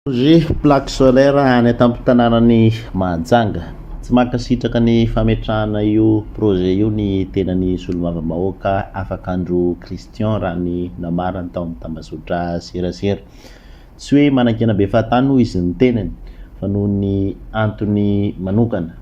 Projet plaque solaire any an-tampon-tanànan'i Mahajanga. Tsy mankasitraka ny fametrahana io projet io ny tenan'ny solombavambahoaka Afakandro Christian raha ny namarany tao amin'ny tambazotra serasera. Tsy hoe manankena be fahatany hoy izy ny tenany fa noho ny antony manokana.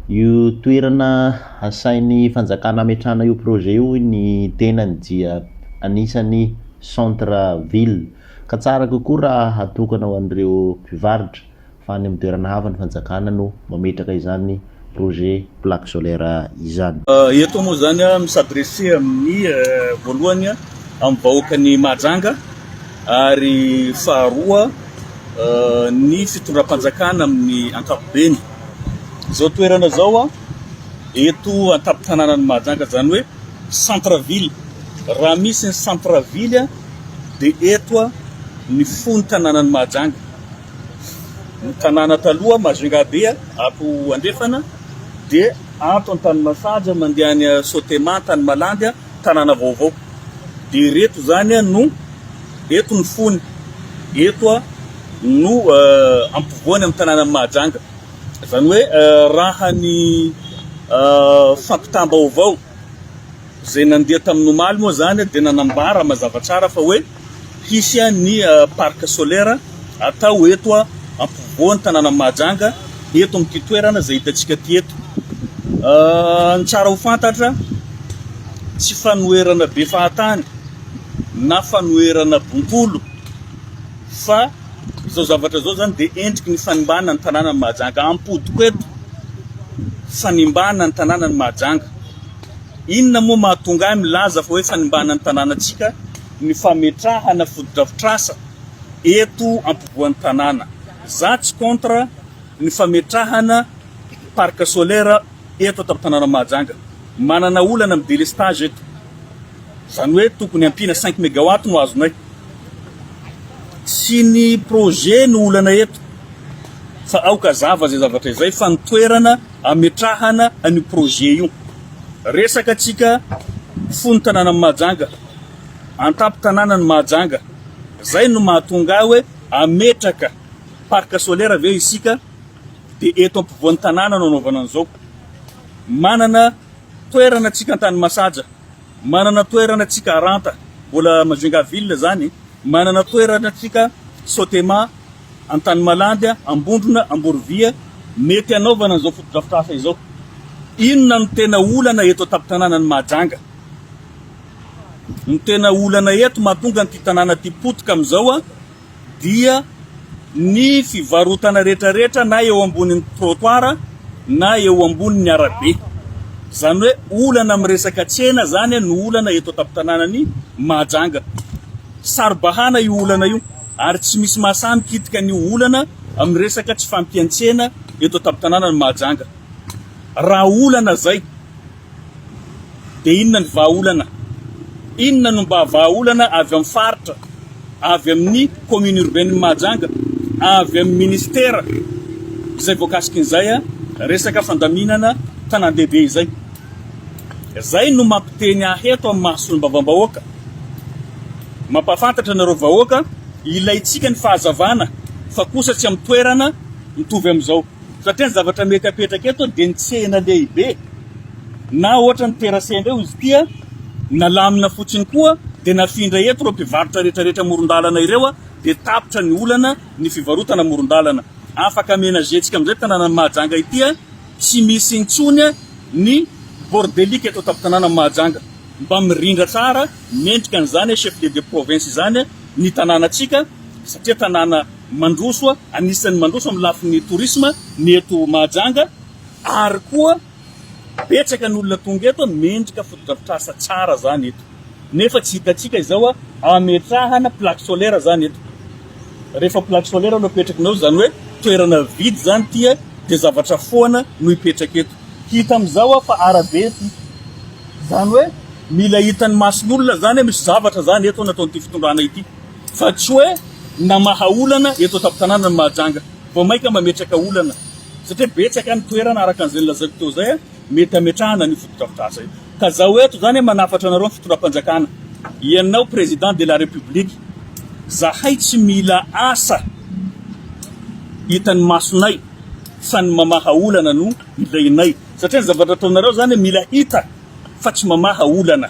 Io toerana asain'ny fanjakana ametrahana io projet io hoy ny tenany dia anisan'ny centre ville Ka tsara kokoa raha hatokana ho an'ireo mpivarotra fa any amin'ny toerana hafa ny fanjakana no mametraka izany projet plaque solaire izany. Eto moa izany mi-s'adresser amin'ny voalohany amin'ny vahoakan'i Mahajanga ary faharoa ny fitondram-panjakana amin'ny ankapobeny. Izao toerana izao eto an-tampon-tanànan'i Mahajanga izany hoe centre ville, raha misy ny centre ville dia eto ny fony tanànan'i Mahajanga. Ny tanàna taloha Majungabe ato andrefana dia ato Antanimasaja mandeha any Sotema, Antanimalandy, tanàna vaovao. Dia ireto izany no eto ny fony, eto no uh, ampovoany amin'ny tanànan'i Mahajanga. Izany hoe uh, raha ny uh, fampitam-baovao izay nandeha tamin'ny omaly moa izany dia nanambara mazava tsara fa hoe hisy ny parc solaire atao eto ampovoan'ny tanànan'i Mahajanga eto amin'ity toerana izay hitantsika ity eto. Ny tsara ho fantatra tsy fanoherana be fahatany na fanoherana bontolo fa Izao zavatra izao izany dia endriky ny fanimbana ny tanànan'i Mahajanga. Ampodiko eto, fanimbana ny tanànan'i Mahajanga. Inona moa mahatonga ahy milaza fa hoe fanimbana ny tanànantsika ny fametrahana fotodrafitrasa eto ampovoan'ny tanàna. Za tsy contre ny fametrahana parc solaire eto an-tampon-tanànan'i Mahajanga. Manana olana amin'ny délestage eto. Izany hoe tokony ampiana cinq mégawatt no azonay. Tsy ny projet no olana eto fa aoka hazava izay zavatra izay fa ny toerana ametrahana an'io projet io. Resaka antsika fony tanànan'i Mahajanga, antampon-tanànan'i Mahajanga. Izay no mahatonga ahy hoe ametraka parc solaire ve isika dia eto ampovoan'ny tanàna no anaovana an'izao. Manana toerana antsika an-tany masaja. Manana toerana tsika Aranta, mbola Majunga ville zany, manana toerana tsika Sotema, Antanimalandy, Ambondrona, Amborovia, mety hanaovana an'izao fotodrafitrasa izao. Inona no tena olana eto an-tampon-tanànan'i Mahajanga? Ny tena olana eto mahatonga an'ity tanàna ity potika amin'izao a, dia ny fivarotana retraretra na eo ambonin'ny trottoir na eo ambonin'ny arabe. Izany hoe olana amin'ny resaka tsena izany no olana eto an-tampon-tanànan'i Mahajanga. Saro-bahana io olana io ary tsy misy mahasahy mikitika an'io olana amin'ny resaka tsy fahampian-tsena eto an-tampon-tanànan'i Mahajanga. Raha olana izay, Dia inona ny vahaolana? Inona no mba vahaolana avy amin'ny faritra, avy amin'ny commune urbaine-n'i Mahajanga, avy amin'ny ministera izay voakasikin'izay resaka fandaminana tanàn-dehibe izay? Izay no mampiteny ahy eto amin'ny maha solombavambahoaka, mampahafantatra anareo vahoaka, ilaintsika ny fahazavana fa kosa tsy amin'ny toerana mitovy amin'izao. Satria ny zavatra mety apetraka eto dia ny tsena lehibe na ohatra ny terrasse indray hoy izy ity a, nalamina fotsiny koa dia nafindra eto ireo mpivarotra rehetra rehetra amoron-dalana ireo a, dia tapitra ny olana ny fivarotana amoron-dalana. Afaka amenager-tsika amin'izay tanànan'i Mahajanga ity a, tsy misy intsony a ny bordelique eto an-tampon-tanànan'i Mahajanga. Mba mirindra tsara mendrika an'izany chef-lieu de province izany ny tanànatsika satria tanàna Mandroso, anisan'ny mandroso amin'ny lafiny tourisme ny eto Mahajanga ary koa betsaka ny olona tonga eto mendrika fotodrafitrasa tsara zany eto nefa tsy hitantsika izao ametrahana plaque solaire zany eto rehefa plaque solaire no apetrakinao zany hoe toerana vide zany tia de zavatra foana no hipetraka eto hita amizao fa arabe ity zany hoe mila hitan'ny mason'olona zany misy zavatra zany eto nataon'ity fitondrana ity Fa tsy hoe namaha olana eto an-tampon-tanàna ny Mahajanga vao mainka mametraka olana, satria betsaka ny toerana, araka an'izay nolazaiko teo izay, mety hametrahana an'io fotodrafitrasa io. Ka izaho eto izany manafatra anareo ny fitondram-panjakana, ianao Président de la République, izahay tsy mila asa hitan'ny masonay fa ny mamaha olana no ilainay, satria ny zavatra ataonareo izany mila hita fa tsy mamaha olana.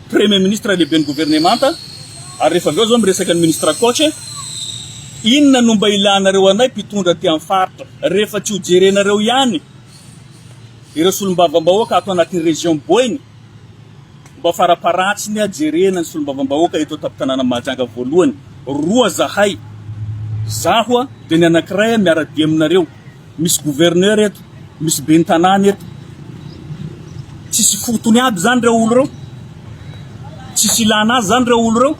Premier Ministre lehiben'ny Governemanta, ary rehefa avy eo zao miresaka ny Ministre Coach e, inona no mba ilanareo anay mpitondra aty amin'ny faritra rehefa tsy ho jerenareo ihany ireo solombavambahoaka ato anatin'ny Région Boeny, mba faraparatsiny a jerena ny solombavambahoaka eto an-tampon-tanàna Mahajanga voalohany, roa zahay, zaho a dia ny anankiray a miara-dia aminareo. Misy gouverneur eto, misy ben'ny tanàna eto. Tsisy fotony aby zany reo olo reo? Tsisy ilana azy zany reo olo reo?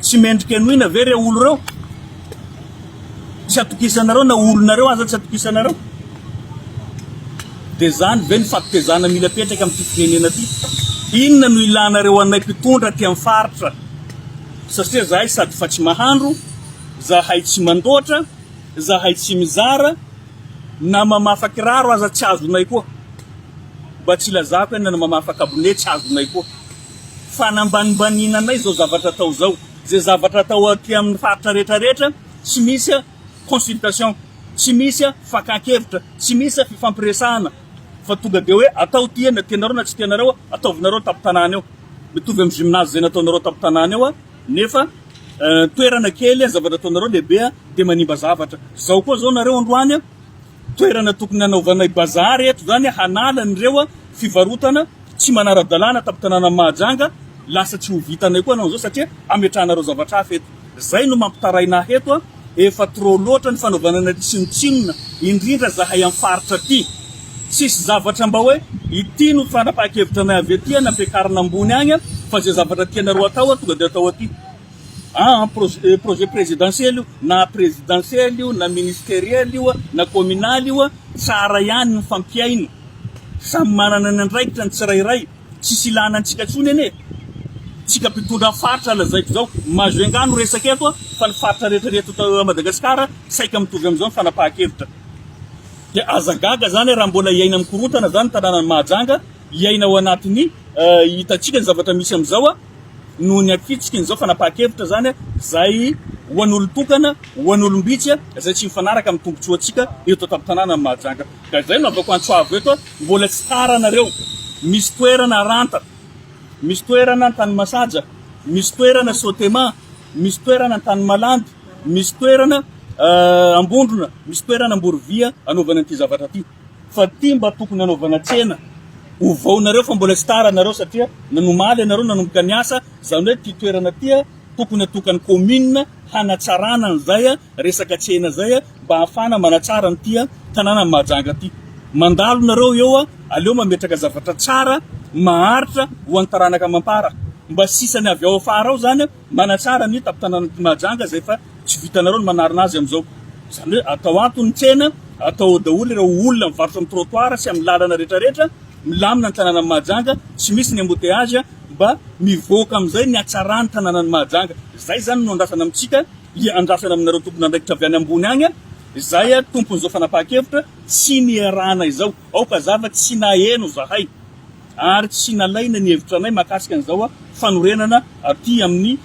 Tsy mendrika henoina ve reo olo reo? Tsy atokisanareo na olonareo aza tsy atokisanareo? De zany ve ny fahatezana mila apetraka amin'ity firenena ty? Inona no ilanareo anay mpitondra aty amin'ny faritra? Satria zahay sady fa tsy mahandro, zahay tsy mandoatra, Zahay tsy mizara na mamafa kiraro aza tsy azonay koa. Mba tsy ilazako eny na mamafa kabone tsy azonay koa. Fanambanimbaniana anay zao zavatra atao zao. Ze zavatra atao aty aminy faritra rehetra rehetra tsy misy consultation, tsy misy fakan-kevitra, tsy misy fifampiresahana fa tonga de hoe atao ty eny na tianareo na tsy tianareo ataovinareo an-tampon-tanàna eo. Mitovy am gymnase zay nataonareo an-tampon-tanàna eo. Nefa toerana kely a, zavatra ataonareo lehibe a, dia manimba zavatra. Izao koa izao nareo androany a, toerana tokony hanaovanay bazary eto izany a, hanala an'ireo a fivarotana tsy manara-dalàna tampon-tanànan'i Mahajanga, lasa tsy ho vitanay koa anao izao satria ametrahanareo zavatra hafa eto. Izay no mampitaraina ahy eto a. Efa trop loatra ny fanaovana anay tsinontsinona indrindra zahay am faritra aty. Tsisy zavatra mba hoe ity no fanapahan-kevitra anay avy aty an ampiakarina ambony agny an fa ze zavatra tianareo atao an tonga de atao aty an an projet projet prezidansiely io na prezidansiely io na ministeriel io an na kominaly io an tsara ihany ny fampihaina samy manana ny andraikitra ny tsirairay Tsisy ilana antsika tsony anie e! Tsika mpitondra faritra lazaiko zao, Majunga no resaka eto a, fa ny faritra rehetra reto eto Madagascar saika mitovy amizao ny fanapahan-kevitra. Dia aza gaga zany raha mbola iaina am korontana zany ny tananan'i Mahajanga, iaina ao anatiny hitantsika ny zavatra misy amizao a, noho ny afitsiky ny zao fanapahan-kevitra zany a, zay ho an'olon-tokana, ho an'olom-bitsy a, zay tsy mifanaraka am tombotsoa tsika eto tampon-tananan'i Mahajanga. Ka izay no ataoko antso avo eto hoe mbola tsy tara nareo, misy toerana Aranta, misy toerana Antanimasaja, misy toerana Sotema, misy toerana Antanimalandy, misy toerana Ambondrona, misy toerana Amborovia anaovana an'ity zavatra ity. Fa ity mba tokony anaovana tsena, ovao nareo fa mbola tsy tara nareo satria nanomaly ianareo nanomboka niasa, izany hoe ity toerana ity tokony atokan'ny commune hanatsarana an'izay resaka tsena izay. mba hahafahana manatsara an'ity tanànan'i Mahajanga ity. Mandalo nareo eo a, aleo mametraka zavatra tsara, maharitra ho an'ny taranaka amam-para. Mba sisany avy ao afara ao zany manatsara ny tampon-tanànan'ity Mahajanga izay efa tsy vitanareo ny manarina azy amin'izao. Izany hoe atao ato ny tsena, atao ao daholo ireo olona mivarotra amin'ny trottoir sy amin'ny lalana rehetrarehetra, milamina ny tanànan'i Mahajanga, tsy misy ny embouteillage, mba mivoaka amin'izay ny hatsaran'ny tanànan'i Mahajanga. Izay zany no andrasana amintsika. Hiandrasana aminareo tompon'andraikitra avy any ambony any aho, izay tompon'izao fanapahan-kevitra tsy niarahana izao. Aoka zava tsy naheno zahay ary tsy nalaina ny hevitra anay mahakasika an'izao fanorenana aty amin'ny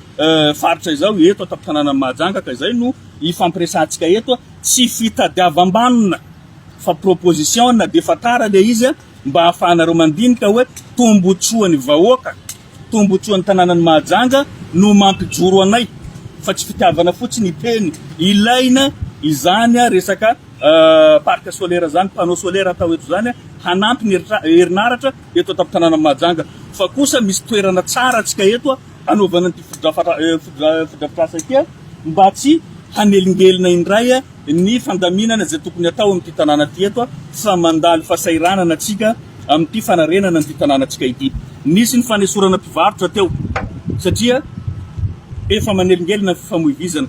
faritra izao eto an-tampon-tanànan'i Mahajanga ka izay no hifampiresahantsika eto. Tsy fitadiavam-banona fa proposition na dia efa tara ilay izy. mba hahafahanareo mandinika hoe tombontsoan'ny vahoaka, tombontsoan'ny tanànan'i Mahajanga no mampijoro anay fa tsy fitiavana fotsiny hiteny. Ilaina izany resaka parc solaire izany, panneau solaire atao eto izany hanampy ny herinaratra eto an-tampon-tanànan'i Mahajanga. Fa kosa misy toerana tsara antsika eto hanaovana ity fotodrafitrasa ity mba tsy hanelingelina indray. ny fandaminana izay tokony hatao amin'ity tanàna ity eto fa mandalo fahasahiranana tsika amin'ity fanarenana an'ity tanàna tsika ity. Nisy ny fanesorana mpivarotra teo satria efa manelingelina ny fifamoivizana.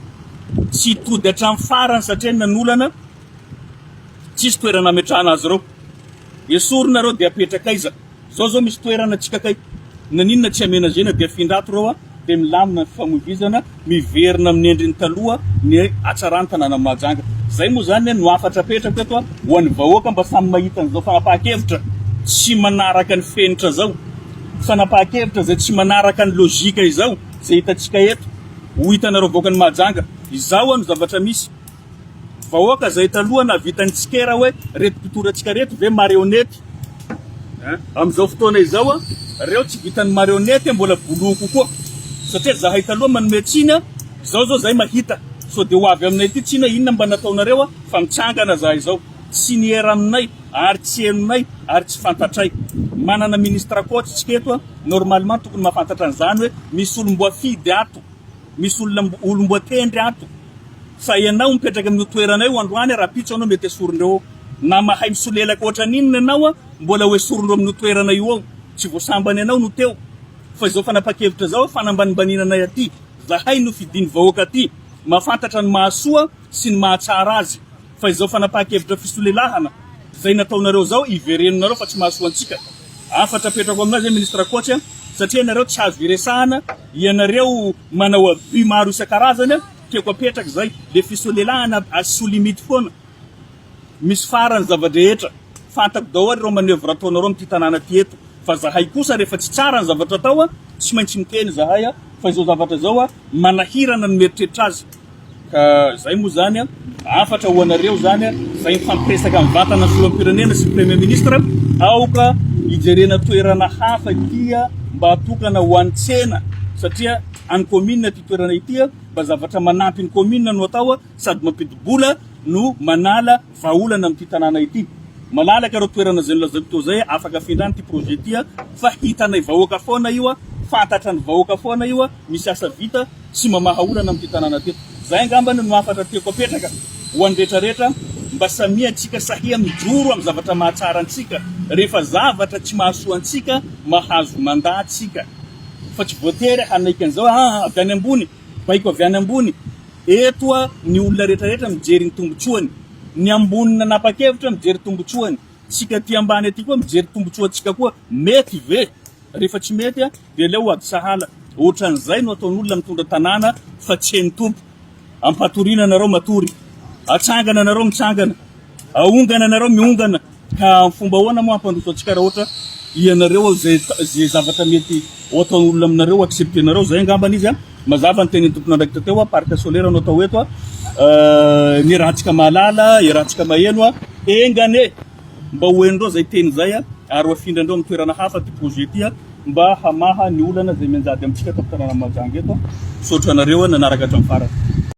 Tsy tody hatramin'ny farany satria nanolana tsisy toerana ametrahana azy ireo. Esorina ireo dia apetraka aiza? Zao zao misy toerana tsy kakay naninona tsy amenagena dia afindra ato reo a dia milamina ny fifamoivizana miverina amin'ny endriny taloha ny hatsaran'ny tanànan'i Mahajanga zay moa zany no hafatra apetrako eto a ho an'ny vahoaka mba samy mahita an'izao fanapahan-kevitra tsy manaraka ny fenitra zao fanapahan-kevitra zay tsy manaraka ny logika izao zay hitantsika eto ho hitanareo vahoakan'i Mahajanga izao a no zavatra misy Vahoaka zay taloha nahavita ny tsikera hoe reto mpitondra antsika reto ve marionety hein amizao fotoana izao a reo tsy vitan'ny marionety a mbola boloho kokoa satria zahay taloha manome tsiny a zao zao zay mahita so de ho avy aminay ty tsiny hoe inona mba nataonareo a fa mitsangana zahay zao tsy niera aminay ary tsy henonay ary tsy fantatray manana ministra coach tsika eto a normalement tokony mahafantatra an'izany hoe misy olom-boafidy ato Misy olona olom-boatendry ato fa ianao mipetraka amin'io toerana io androany rahampitso ianao mety esorindreo ao na mahay misolelaka ohatrany inona ianao a mbola ho esorindreo amin'io toerana io ao tsy voasambany ianao no teo fa izao fanapa-kevitra izao fanambanimbaniana anay aty zahay no fidin'ny vahoaka aty mahafantatra ny mahasoa sy ny mahatsara azy Fa izao fanapahan-kevitra fisolelahana izay nataonareo izao iverenonareo fa tsy mahasoa antsika. Hafatra apetrako aminao izay Ministra Coach a, satria ianareo tsy azo iresahana, ianareo manao abus maro isan-karazany a, tiako apetraka izay, le fisolelahana asio limite foana, misy farany zava-drehetra, fantako daholo ireo manœuvre ataonareo amin'ity tanàna ty eto, fa zahay kosa rehefa tsy tsara ny zavatra atao a, tsy maintsy miteny zahay a, fa izao zavatra izao a, manahirana ny mieritreritra azy. Ka izay moa izany, hafatra ho anareo izany, izay mifampiresaka amin'ny vatana filoham-pirenena sy ny Premier Ministre, aoka hijerena toerana hafa ity mba atokana ho an'ny tsena satria an'ny Commune ity toerana ity, mba zavatra manampy ny Commune no atao sady mampidi-bola no manala Vahaolana amin'ity tanàna ity. Malalaka ireo toerana izay nolazaiko teo izay, afaka afindrana ity projet ity fa hitanay vahoaka foana io, fantatran'ny vahoaka foana io, misy asa vita tsy mamaha olana amin'ity tanàna teto. Izay angambany no hafatra tiako apetraka ho an'ny rehetra rehetra mba samia antsika sahia mijoro amin'ny zavatra mahatsara antsika rehefa zavatra tsy mahasoa antsika mahazo mandat tsika fa tsy voatery hanaiky an'izao avy any ambony Baiko avy any ambony. Eto ny olona rehetrarehetra mijery ny tombotsoany. Ny ambony nanapa-kevitra mijery tombotsoany. Tsika aty ambany aty koa mijery tombotsoantsika koa. Mety ve? Rehefa tsy mety dia aleo ho ady sahala. Ohatran'izay no ataon'olona mitondra tanàna fa tsy hain'ny Tompo. Ampatoriana anareo matory. Atsangana anareo mitsangana. Ahongana anareo mihongana. Ka fomba ahoana moa hampandroso antsika raha ohatra ianareo izay izay zavatra mety ho ataon'ny olona aminareo accepter-nareo zay angambany izy a. Mazava ny tenin'ny tompon'andraikitra teo a, parc solaire no atao eto a, ny erantsika mahalala, erantsika maheno a, engan e! mba ho henondreo zay teny zay a, ary ho afindrandreo amin'ny toerana hafa ty projet ty a, mba hamaha ny olana izay mianjady amintsika tamin'ny tanàna Mahajanga eto a. Misaotra anareo nanaraka hatramin'ny farany.